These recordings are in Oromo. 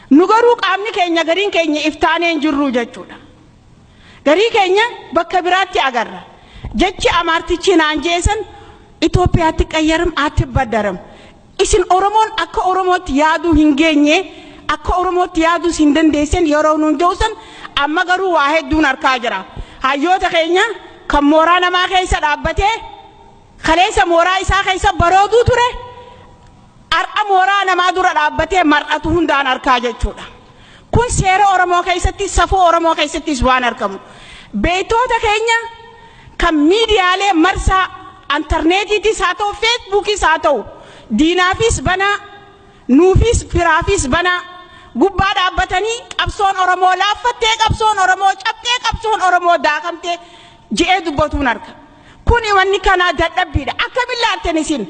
Nu garuu qaamni keenya gariin keenya if taanee hin jirru jechuudha. Garii keenya bakka biraatti agarra. Jechi amaartichi naan jeesan Itoophiyaatti qayyaram aatti baddaram. Isin Oromoon akka Oromootti yaaduu hin geenye akka Oromootti yaaduus hin dandeessan yeroo nuun je'usan amma garuu waa hedduun harkaa jira. Hayyoota keenya kan mooraa namaa keessa dhaabbatee kaleessa mooraa isaa keessa barooduu ture. Har'a mooraa namaa dura dhaabbatee mar'atu hundaan arkaa jechuudha. Kun seera Oromoo keessatti, safuu Oromoo keessattis waan argamu. Beektoota keenya kan miidiyaalee marsaa antarneetiitis haa ta'u, feesbuukis haa ta'u, diinaafis banaa, nuufis firaafis banaa gubbaa dhaabbatanii qabsoon Oromoo laaffattee, qabsoon Oromoo cabxee, qabsoon Oromoo daakamtee je'ee dubbatuun arga. Kuni wanni kanaa dadhabbiidha. Akkamiin laaltan isin?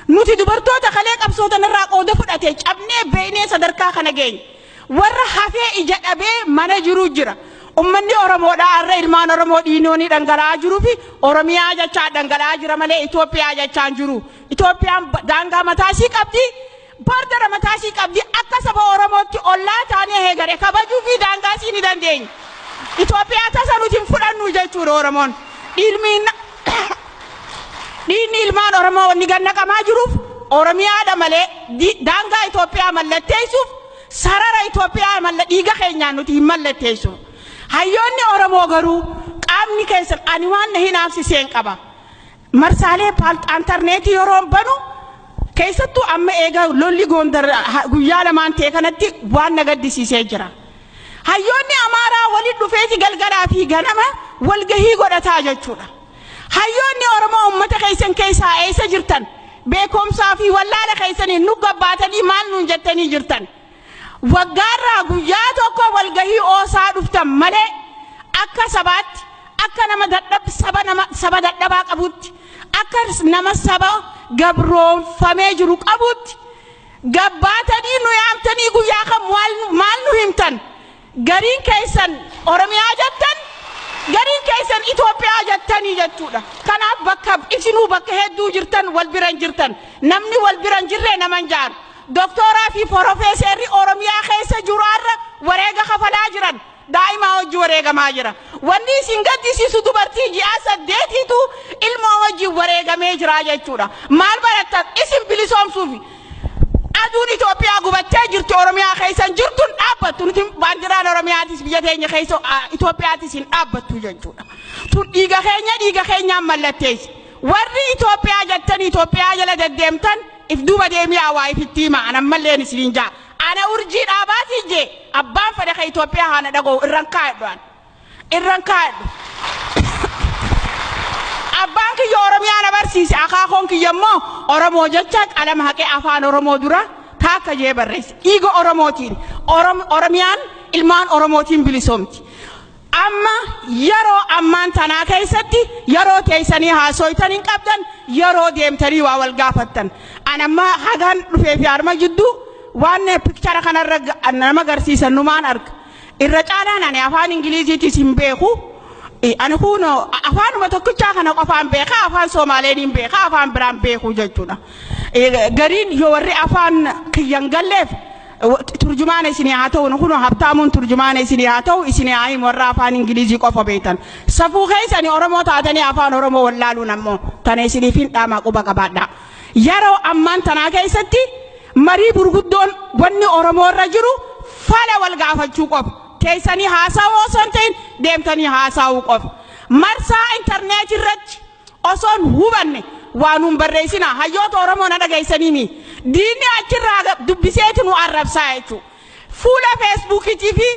Nuti dubartoota kalee qabsoo tanarraa qooda fudhate cabnee beeynee sadarkaa kana geenye. Warra hafee ija dhabee mana jiruu jira. Ummanni Oromoodhaa har'a ilmaan Oromoo dhiinoonii dhangala'aa jiruu fi Oromiyaa jechaa dhangala'aa jira malee Itoophiyaa jechaa hin jiru. Itoophiyaan daangaa mataa isii qabdi. Paartera mataa isii qabdi. Akka saba Oromootti ollaa taanee heegare kabajuu fi daangaa isii ni dandeenya. Itoophiyaa tasa nuti hin fudhannu jechuudha Oromoon. Dhiilmiin dhiinni ilmaan Oromoo wanni gannaqamaa jiruuf Oromiyaadha malee di- daangaa Itoophiyaa mallatteessuuf sarara Itoophiyaa malla dhiiga keenyaan nuti hin mallatteessu. Hayyoonni Oromoo garuu qaamni keessan ani waan na hinaafsiseen qaba. Marsaalee paalxaantarneetii yeroon banu keessattuu amma eega lolli goondar guyyaa lamaan ta'e kanatti waan na gaddisiisee jira. Hayyoonni Amaaraa waliin dhufeeti galgalaa fi ganama walgahii godhataa jechuudha. Hayyoonni Oromoo uummata keessan keessaa eessa jirtan? Beekumsaa fi wallaala keessaniin nu gabbaatanii maal nuun jettanii jirtan? Waggaarraa guyyaa tokko walgahii oosaa dhuftan malee akka sabaatti, akka nama dadhab saba nama saba dadhabaa qabuutti, akka nama saba gabroomfamee jiru qabuutti gabbaatanii nu yaamtanii guyyaa kam maal nu himtan? Gariin keessan Oromiyaa jettan, gariin keessan Itoophiyaa jettanii jechuudha. Kanaaf bakka isinuu bakka hedduu jirtan wal bira hin jirtan. Namni wal bira hin jirre nama hin jaaru. Doktooraa fi forofeeseerri Oromiyaa keessa jiru har'a wareega kafalaa jiran. Daa'imaa wajji wareegamaa jira. Wanni isin gaddisiisu dubartii ji'aa saddeetiitu ilmoo wajjin wareegamee jira jechuudha. Maal barattan? Isin bilisoomsuufi. Aduun Itoophiyaa gubattee jirtu Oromiyaa keessa hin jirtu hin dhaabbattu. Nuti baandiraan Oromiyaatis biyya keenya keessa ah, Itoophiyaatis hin dhaabbattu jechuudha. Tun dhiiga keenya dhiiga keenyaan mallatteessi. Warri Itoophiyaa jettan Itoophiyaa jala deddeemtan if duuba deemii awaa ifitti hima an ammalleen isiniin jaa. Ana urjii dhaabaati jee abbaan fedha ka Itoophiyaa haana dhagoo irran kaa'e dhu'an. irran kaadhe. Abbaan kiyya Oromiyaa na barsiise, akaakoon kiyya immoo Oromoo jecha qalama haqee afaan Oromoo dura taakka jee barreesse. Dhiiga Oromootiin Orom, Oromiyaan ilmaan Oromootiin bilisoomti. Amma yeroo ammaan tanaa keessatti yeroo teessanii haasooytan hin qabdan, yeroo deemtanii waa wal gaafattan. An amma hagaan dhufee fi arma jidduu waan pikchara kanarra nama garsiisan numaan arga. Irra caalaan ani afaan Ingiliiziitis hin beeku. Eh, Ani kuno afaanuma tokkichaa kana qofaan beeka, afaan Soomaaleen hin beeka, afaan biraan beeku jechuudha. Eh, Gariin yoo warri afaan kiyya hin galleef wa- turjumaana isinii haa ta'u, nu kuno habtaamuun turjumaana isinii haa ta'u, isinii haa himu warra afaan Ingiliizii qofa beektan. Safuu keessanii Oromoo taatanii afaan Oromoo wallaaluun ammoo tana isiniif hin dhaamaa quba qabaadhaa. Yeroo ammaan tanaa keessatti Marii gurguddoon wanni Oromoo irra jiru fala wal gaafachuu qofa. Teessanii haasawuu osoo hin ta'in deemtanii haasaawuu qofa. Marsaa interneetii irratti osoon hubanne waa nuun barreessinaa. Hayyoota Oromoo na dhageessanii mii? Diinni achirraa dubbisee ti nu arrabsaa jechuu. Fuula Feesbuukiitii fi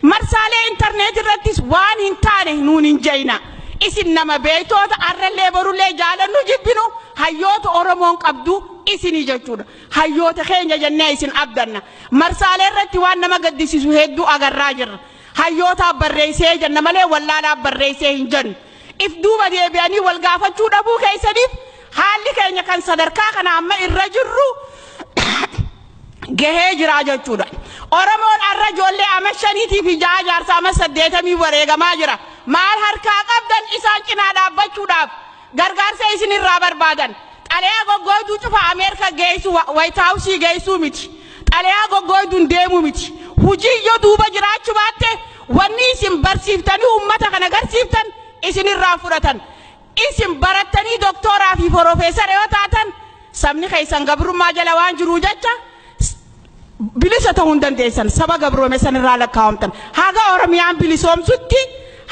marsaalee intarneetii irrattis waan hin taane nuun hin jayina. Isin nama beektoota arrallee borullee jaalannu jibbinu hayyoota Oromoon qabdu isinii jechuudha. Hayyoota keenya jennee isin abdanna. Marsaalee irratti waan nama gaddisiisu hedduu agarraa jirra. Hayyootaaf barreessee jenna malee wallaalaaf barreessee hin jennu. If duuba deebi'anii wal gaafachuu dhabuu keessaniif haalli keenya kan sadarkaa kana amma irra jirru gahee jiraa jechuudha. Oromoon arra ijoollee ama shaniitii fi ja'a jaarsa ama saddeetamii wareegamaa jira. Maal harkaa qabdan isaan cinaa dhaabbachuudhaaf gargaarsa isin irraa barbaadan. Xalayaa goggooyduu cufa Ameerika geeysu White House geeysuu miti. Xalayaa goggooyduun deemuu miti. Hujiin yo duuba jiraachu baatte wanni isin barsiiftanii ummata kana garsiiftan isin irraa hin fudhatan. Isin barattanii doktoora fi forofeesara yo taatan sabni keeysan gabrummaa jala waan jiruu jecha Bilisa ta'uu hin dandeessan saba gabroome san irraa lakkaawamtan. Haga Oromiyaan bilisoomsutti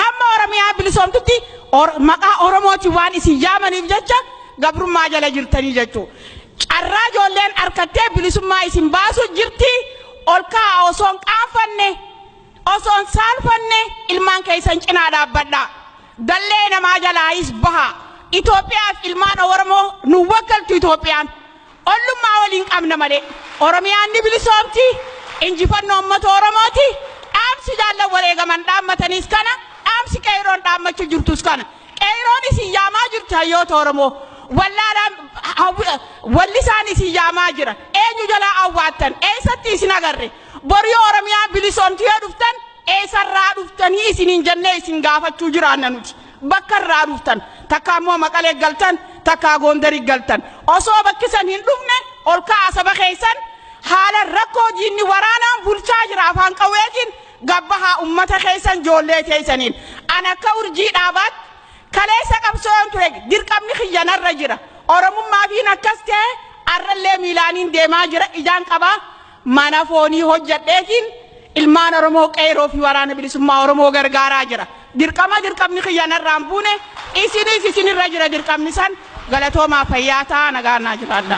hamma Oromiyaa bilisoomtutti or, maqaa Oromootiin waan isin yaamaniif jecha gabrummaa jala jirtanii jechuu. Carraa ijoolleen arkattee bilisummaa isin baasu jirti ol kaa'a osoon qaanfanne osoon saalfanne ilmaan keessan cinaa dhaabbadha. Dallee namaa jalaayis baha. Itoophiyaaf ilmaan Oromoo nu wakkaltu Itoophiyaan. Ollummaa waliin qabna malee Oromiyaan ni bilisoomti, injifannoo ummata Oromooti, dhaamsi jaallan wareegaman dhaammatanis kana, dhaamsi Qeeyroon dhaammachu jirtus kana. Qeeyroon isin yaamaa jirti hayyoota Oromoo, wallaalaan wallisaan isin yaamaa jira, eenyu jalaa awwaattan, eessatti isin agarre, bor yoo Oromiyaan bilisoomti yoo dhuftan eessarraa dhuftanii isiniin jennee isin gaafachuu jiraanna nuti. Bakka irraa dhuftan takka ammoo maqalee galtan takka goondari galtan osoo bakkisan hin dhufne ol ka'aa saba keessan haala rakkoo diinni waraanaan bulchaa jira afaan qawweetiin gabbahaa ummata keessan joollee teessaniin an akka urjii dhaabaatti kaleessa qabsoon ture dirqamni kiyyanarra jira oromummaa fiin akkas ta'e arrallee miilaaniin deemaa jira ijaan qabaa Mana foonii hojjedheetiin ilmaan Oromoo qeeroo fi waraana bilisummaa Oromoo gargaaraa jira. Dirqama dirqamni kiyya narraan buune isinis isinirra jira dirqamni san galatoomaa fayyaa ta'a nagaan naa jiraadha.